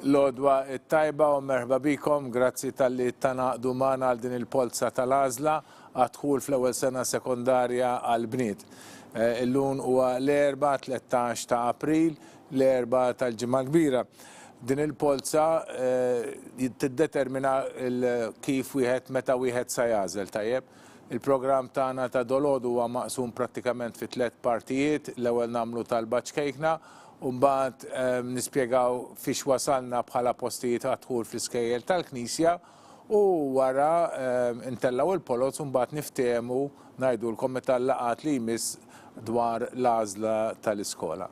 L-għodwa it-tajba u merħba bikom, grazzi tal-li tanaqdu magħna għal din il-polza tal-għażla għad-dħul fl-ewwel sena sekondarja għall-bniet. Eh, illum huwa l-erba 13 ta' April, l-erba tal-ġimgħa kbira. Din il-polza eh, tiddetermina kif wieħed meta wieħed sa jażel tajjeb. Il-programm tagħna ta' dolodu huwa maqsum prattikament fi tliet partijiet, l-ewwel nagħmlu talba ċkejkna u mbagħad nispjegaw fiex wasalna bħala postijiet għad-dħul fl-iskejjel tal-knisja u wara ntellgħu il-poloz u mbagħad niftehmu ngħidulkom meta l-laqgħat li jmiss dwar l-għażla tal-iskola.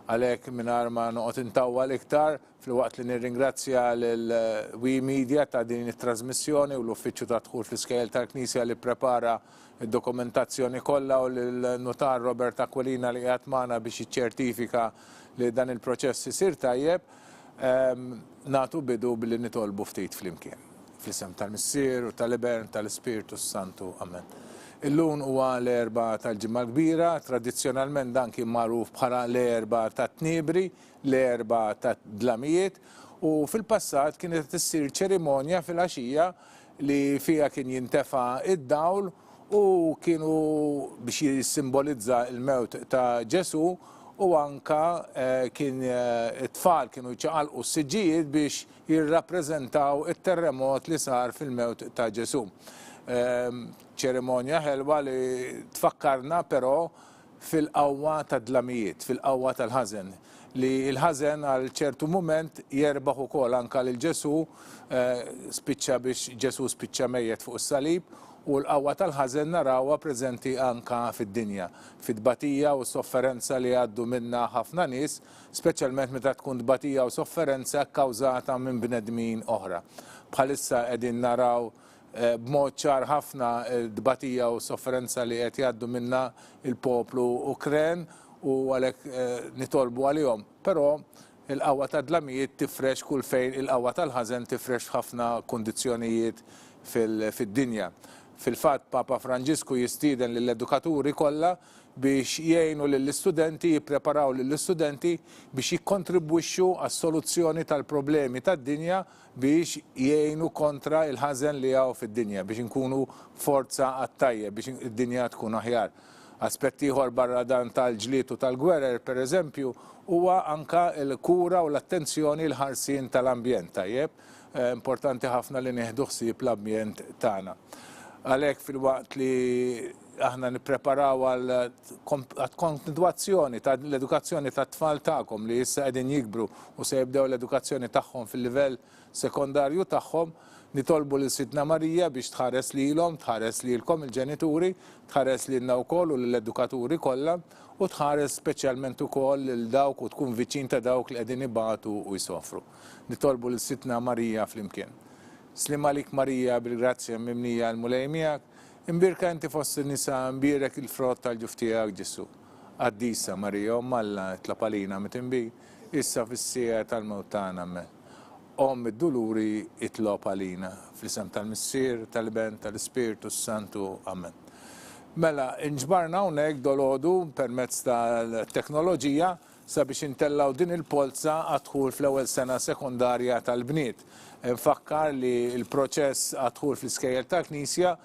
Għalhekk mingħajr ma noqgħod intawwal iktar, Filwaqt li nirringrazzja lil we Media ta' din it-trasmissjoni u l-Uffiċċju tad-Dħul fl-Iskejjel tal-Knisja li pprepara d-dokumentazzjoni kollha u lil Nutar Robert Aquilina li qiegħed magħna biex jiċċertifika li dan il-proċess isir tajjeb, nagħtu bidu billi nitolbu ftit flimkien. Fl-isem tal-Missier u tal-Iben tal-Ispirtu s-Santu. Amen. Illun huwa l-Erbgħa tal-Ġimgħa l-Kbira, tradizzjonalment dan kien magħruf bħala l-Erbgħa tat-Tniebri, l-Erbgħa tad-Dlamijiet u fil-passat kienet qed issir ċerimonja fil-għaxija li fiha kien jintefa' d-dawl u kienu biex jissimbolizza l-mewt ta' Ġesù u anke kien it-tfal kienu jċaqalqu s-siġġijiet biex jirrappreżentaw it-terremot li sar fil-mewt ta' Ġesù. Ċerimonja ħelwa li tfakkarna però fil-qawwa tad-dlamijiet, fil-qawwa tal-ħażen, li l-ħażen għal ċertu mument jerbaħ ukoll anke lil Ġesù, spiċċa biex Ġesù spiċċa mejjet fuq is-salib, u l-qawwa tal-ħażen narawha preżenti anke fid-dinja, fit-tbatija u s-sofferenza li jgħaddu minnha ħafna nies, speċjalment meta tkun tbatija u sofferenza kkawżata minn bnedmin oħra. Bħalissa qegħdin naraw b'mod ċar ħafna t-tbatija u s-sofferenza li qed jgħaddu minnha l-poplu Ukren u għalhekk nitolbu għalihom. Però il-qawwa tad-dlamijiet tifrex kull fejn il-qawwa tal-ħażen tifrex f'ħafna kundizzjonijiet fid-dinja. Fil-fatt, Papa Franġisku jistieden lill-edukaturi kollha biex jgħinu lill-istudenti, jippreparaw lill-istudenti biex jikkontribwixxu għas-soluzzjoni tal-problemi tad-dinja biex jgħinu kontra il-ħażen li hawn fid-dinja, biex inkunu forza għat-tajjeb, biex id-dinja tkun aħjar. Aspett ieħor barra dan tal-ġlied u tal-gwerer, per eżempju, huwa anka l-kura u l-attenzjoni l-ħarsien tal-ambjent, tajjeb? Importanti ħafna li nieħdu ħsieb l-ambjent tagħna. Għalhekk filwaqt li Aħna nippreparaw għall-kontinwazzjoni ta' l-edukazzjoni tat-tfal tagħkom li issa qegħdin jikbru u se jibdew l-edukazzjoni tagħhom fil-livell sekondarju tagħhom. Nitolbu lil Sidtna Marija biex tħares lilhom, tħares lilkom il-ġenituri, tħares lilna wkoll u lill-edukaturi kollha, u tħares speċjalment ukoll lil dawk u tkun viċin ta' dawk li qegħdin ibatu u jsofru. Nitolbu lil Sidtna Marija flimkien. Sliem għalik Marija bil-grazzja mimlija l-Mulej miegħek, Imbierka inti fost in-nisa, imbierek il-frott tal-ġuf tiegħek, Ġesù. Qaddisa Marija, Omm Alla, itlob għalina mitinbin, issa fis-siegħa tal-mewt tagħna. Ammen. Omm id-duluri, itlob għalina. Fl-isem tal-Missier, tal-Iben, tal-Ispirtu s-Santu. Ammen. Mela, inġbarna hawnhekk dalgħodu permezz tal-teknoloġija sabiex intellgħu din il-polza għad-dħul fl-ewwel sena sekondarja tal-bniet. Infakkar li l-proċess għad-dħul fl-iskejjel tal-Knisja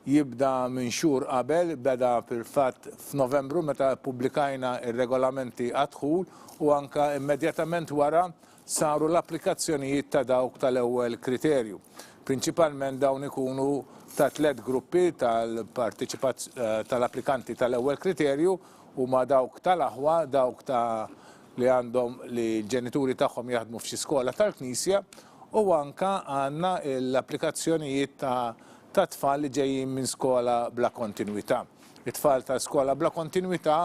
jibda minn xhur qabel, beda fil-fatt f'Novembru meta ppubblikajna r-regolamenti għad-dħul u anke immedjatament wara saru l-applikazzjonijiet ta' dawk tal-ewwel kriterju. Prinċipalment dawn ikunu ta' tliet gruppi tal-applikanti tal-ewwel kriterju, huma dawk tal-aħwa, dawk ta' li għandhom li l-ġenituri tagħhom jaħdmu f'xi skola tal-Knisja, u anke għandna l-applikazzjonijiet ta' tfal li ġejjin minn skola bla kontinwità. It-tfal ta' skola bla kontinwità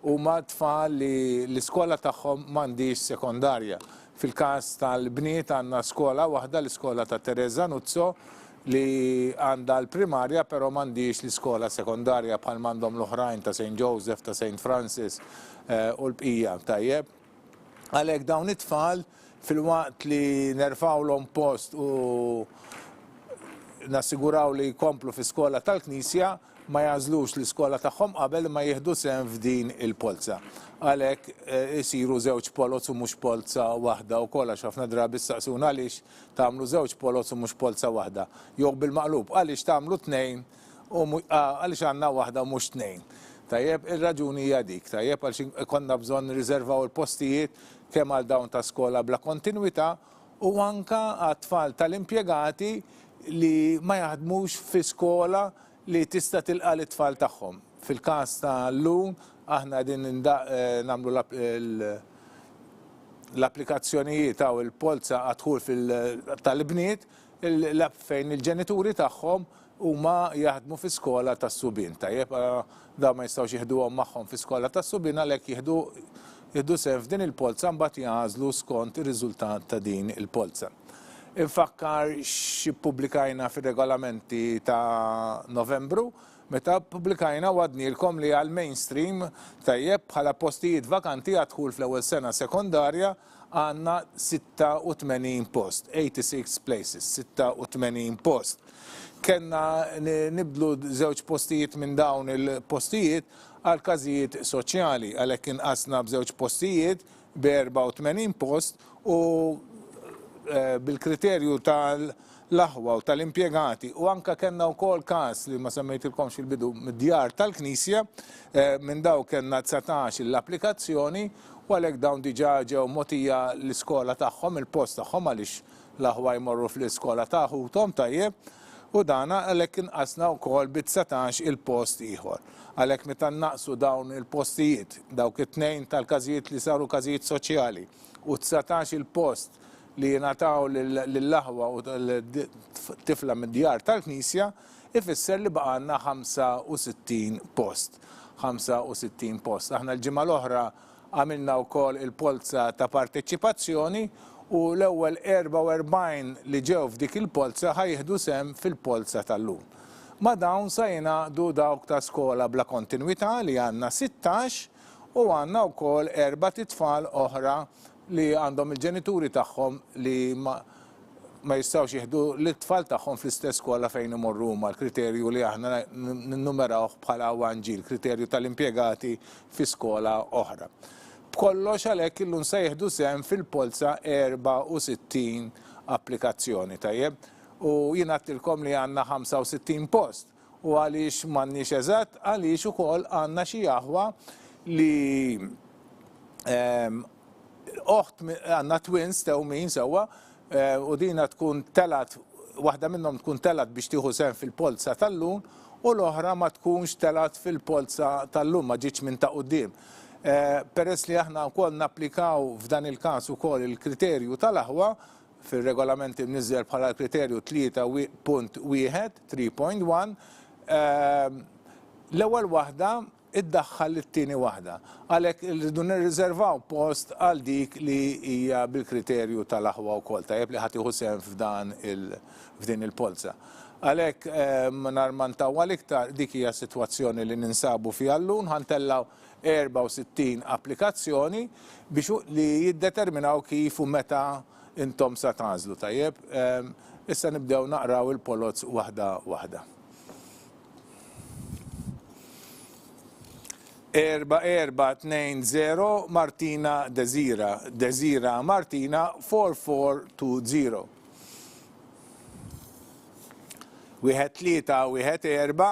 huma tfal li l-iskola tagħhom m'għandhiex sekondarja. Fil-każ tal-bniet għandna skola waħda, l-iskola ta' Teresa Nuzzo, li għandha l-primarja però m'għandhiex l-iskola sekondarja bħalma għandhom l-oħrajn ta' Saint Joseph, ta' Saint Francis u l-bqija, tajjeb? Għalhekk dawn it-tfal filwaqt li nerfgħulhom post u nassiguraw li jkomplu fi skola tal-Knisja ma jagħżlux l-iskola tagħhom qabel ma jieħdu sehem f'din il-polza. Għalhekk eh, isiru żewġ poloz u mhux polza waħda wkoll għax ħafna drabi staqsuna għaliex tagħmlu żewġ poloz u mhux polza waħda. Jew bil-maqlub għaliex tagħmlu tnejn u mhu, ah, għaliex għandna waħda u mhux tnejn. Tajjeb, ir-raġuni hija dik, tajjeb, għaliex in, ikollna bżonn nirriżervaw il-postijiet kemm għal dawn ta' skola bla kontinwità u anke għat-tfal tal-impjegati li ma jaħdmux fi skola li tista' tilqa' lit-tfal tagħhom. Fil-każ ta' llum, aħna qegħdin ninda, eh, nagħmlu l-app, il, l-applikazzjonijiet, hawn il-polza għad-dħul fil, tal-ibniet, Il-lab fejn il-ġenituri tagħhom huma jaħdmu fi skola tas-subien. Tajjeb, dawn ma jistgħux jiħduhom magħhom fi skola tas-subien għalhekk jieħdu jieħdu sehem f'din il-polza mbagħad jagħżlu skont ir-riżultat ta' din il-polza. Infakkar xi ppubblikajna fir-regolamenti ta' Novembru meta ppubblikajna wgħadnielkom li għall-mainstream, tajjeb, bħala postijiet vakanti għad-dħul fl-ewwel sena sekondarja, Għandna 86 post, 86 places, 86 post. Kellna nibdlu żewġ postijiet minn dawn il-postijiet għal każijiet soċjali, għalhekk inqasna b'żewġ postijiet b'84 post u eh, bil-kriterju tal- l-aħwa u tal-impjegati u anke kellna wkoll każ li ma semmejtilkomx fil-bidu mid-djar tal-Knisja, minn dawk kellna dsatax l-applikazzjoni u għalhekk dawn diġà ġew mogħtija l-iskola tagħhom, il-post tagħhom għaliex l-aħwa jmorru fl-iskola ta' ħuthom, tajjeb, u dan għalhekk inqasna wkoll bi dsatax il-post ieħor. Għalhekk meta nnaqqsu dawn il-postijiet, dawk it-tnejn tal-każijiet li saru każijiet soċjali u dsatax il-post li jingħataw lill-aħwa u tifla mid-djar tal-Knisja ifisser li baqa' għandna 65 post. 65 post. Aħna l-ġimgħa l-oħra għamilna wkoll il-polza ta' parteċipazzjoni u l-ewwel 44 li ġew f'dik il-polza ħa jieħdu sehem fil-polza tal-lum. Ma' dawn sa jingħaqdu dawk ta' skola bla kontinwità li għandna 16 u għandna wkoll erbat itfal oħra li għandhom il-ġenituri tagħhom li ma ma jistgħux jieħdu lit-tfal tagħhom fl-istess skola fejn imorru huma, l-kriterju li aħna ninnumerawh bħala 1G, l-kriterju tal-impjegati fi skola oħra. B'kollox għalhekk illum se jieħdu sehem fil-polza 64 applikazzjoni, tajjeb? U jien għedtilkom li għandna 65 post. U għaliex m'għandniex eżatt? Għaliex ukoll għandna xi aħwa li ehm, oħt għandna twins tewmin sewwa eh, u dina tkun telat waħda minnhom tkun telat biex tieħu sen fil-polza tal-lun u l-oħra ma tkunx telat fil-polza tal-lun ma ġietx minn ta' quddiem. Eh, peress li aħna wkoll napplikaw f'dan il-każ ukoll il-kriterju tal-aħwa, fir-Regolament imniżżel bħala l-kriterju 3.1, 3.1, l-ewwel waħda iddaħħal lit-tieni waħda. Għalhekk irridu nirriżervaw post għal dik li hija bil-kriterju tal-aħwa wkoll, tajjeb li ħa tieħu sehem f'dan il f'din il-polza. Għalhekk mingħajr ma ntawwal iktar, dik hija s-sitwazzjoni li ninsabu fiha llum, ħa ntellgħu 64 applikazzjoni biex li jiddeterminaw kif u meta intom sa tagħżlu. Tajjeb, issa nibdew naqraw il-poloz waħda waħda. Erba' erba' tnejn zero Martina Dezira, Dezira Martina 4420. Wieħed tlieta wieħed erba'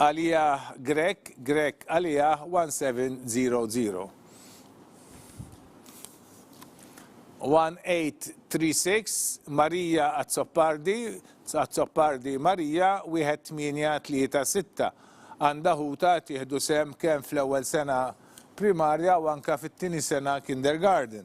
Għaliah Grech Grech Għaliah 17001836 Marija Azzopardi Azzopardi Marija 1836 Għandha ħutha qed jieħdu sehem kemm fl-ewwel sena primarja u anke fit-tieni sena kindergarten.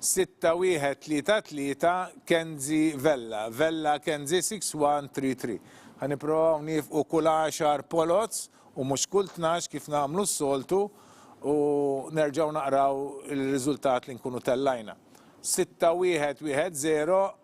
Sitta wieħed tlieta tlieta Kenzi Vella, Vella Kenzi 6133. Ħa nipprovaw nifqu kull għaxar poloz u mhux kull tnax kif nagħmlu s-soltu u nerġgħu naqraw ir-riżultat li nkunu tellajna. Sitta wieħed wieħed żero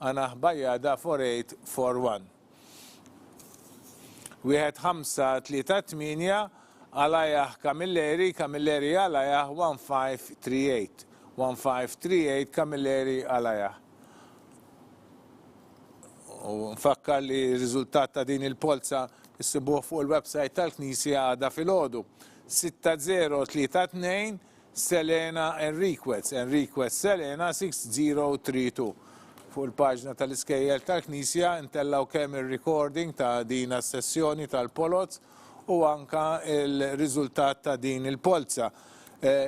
Ana hbajja da for eight four one. Wieħed ħamsa tlieta tmienja Alajah Camilleri Camilleri Alajah one five three eight one five three eight Camilleri Alajah U nfakkar li r-riżultat ta' din il-polza issibuh fuq il-website tal-Knisja għada filgħodu. 6032 Selena Enriquez, Enriquez Selena 6032. Fuq il-paġna tal-iskejjel tal-knisja ntellgħu kemm ir-recording ta' din as-sessjoni tal-poloz u anke l-riżultat ta' din il-polza.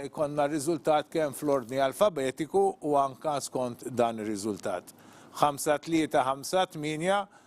Ikollna r-riżultat kemm fl-ordni alfabetiku u anke skont dan ir-riżultat. 5358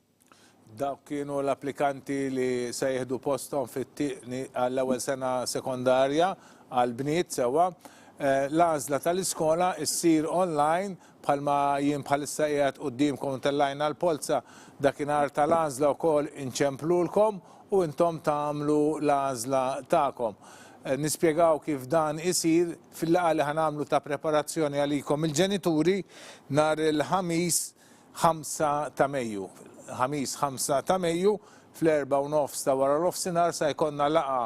Dawk kienu l-applikanti li se jieħdu posthom fit-tieqni għall-ewwel sena sekondarja għall-bniet sewwa. L-għażla tal-iskola ssir online bħalma jien bħalissa qiegħed quddiemkom ntellgħilna l-polza dakinhar tal-għażla wkoll inċemplulkom u intom tagħmlu l-għażla tagħkom. Nispjegaw kif dan isir fil-laqgħa li ħa nagħmlu ta' preparazzjoni għalikom il-ġenituri nhar il-Ħamis ħamsa ta' Mejju. Ħamis ħamsa ta' Mejju fl-erbgħa u nofs ta' wara l-offsinhar sa jkollna laqgħa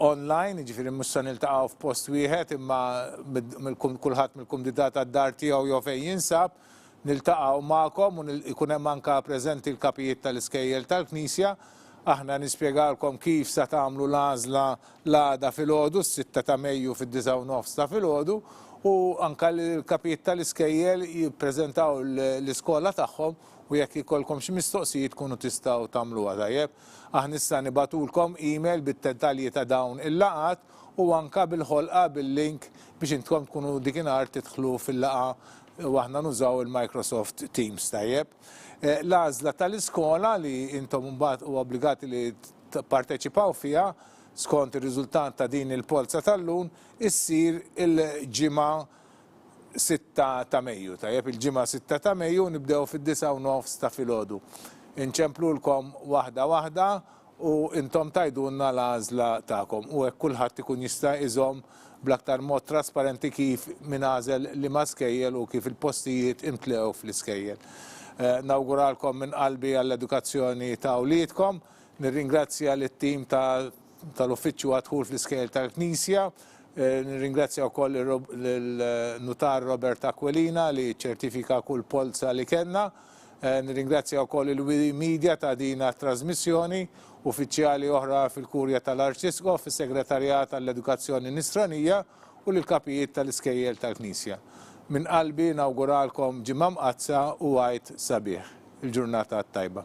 online, jiġifieri mhux se niltaqgħu f'post wieħed imma kulħadd mill-kumditat għad-dar tiegħu jew fejn jinsab, niltaqgħu magħkom u jkun hemm anke preżenti l-kapijiet tal-iskejjel tal-Knisja. Aħna nispjegalkom kif sa tagħmlu l-għażla l-għada filgħodu, s-sitta ta' Mejju fid-disgħa u nofs ta' filgħodu, u anke l-kapijiet tal-iskejjel jippreżentaw l-iskola tagħhom u jekk ikollkom xi mistoqsijiet tkunu tistgħu tagħmluha, tajjeb? Aħna issa nibagħtulkom email bid-dettalji ta' dawn il-laqgħat u anke bil-ħolqa bil-link biex intkom tkunu dik inhar tidħlu fil-laqgħa u aħna nużaw il-Microsoft Teams, tajjeb? L-għażla tal-iskola li intom imbagħad u obbligati li tipparteċipaw fiha skont ir-riżultat ta' din il-polza tal-lun issir il-Ġimgħa 6 ta' Mejju. Tajjeb il-Ġimgħa 6 ta' Mejju nibdew fid-disgħa u nofs ta' filgħodu. Inċemplulkom waħda waħda u intom tgħidulna l-għażla tagħkom u hekk kulħadd ikun jista' iżomm bl-aktar mod trasparenti kif min għażel liema skejjel u kif il-postijiet imtlew fl-iskejjel. Nawguralkom minn qalbi għall-edukazzjoni ta' wliedkom. Nirringrazzja lit-tim tal-Uffiċċju għad-Dħul fl-Iskejjel tal-Knisja. Nirringrazzja wkoll lin-Nutar Robert Aquilina li ċċertifika kull polza li kellna. Nirringrazzja wkoll il-Wii Media ta' din għat-trażmissjoni, uffiċjali oħra fil-Kurja tal-Arċisqof, is-Segretarjat għall-Edukazzjoni Nisranija u lill-Kapijiet tal-Iskejjel tal-Knisja. Minn qalbi nawguralkom Ġimgħa Mqaddsa u Għid sabiħ. Il-ġurnata t-tajba.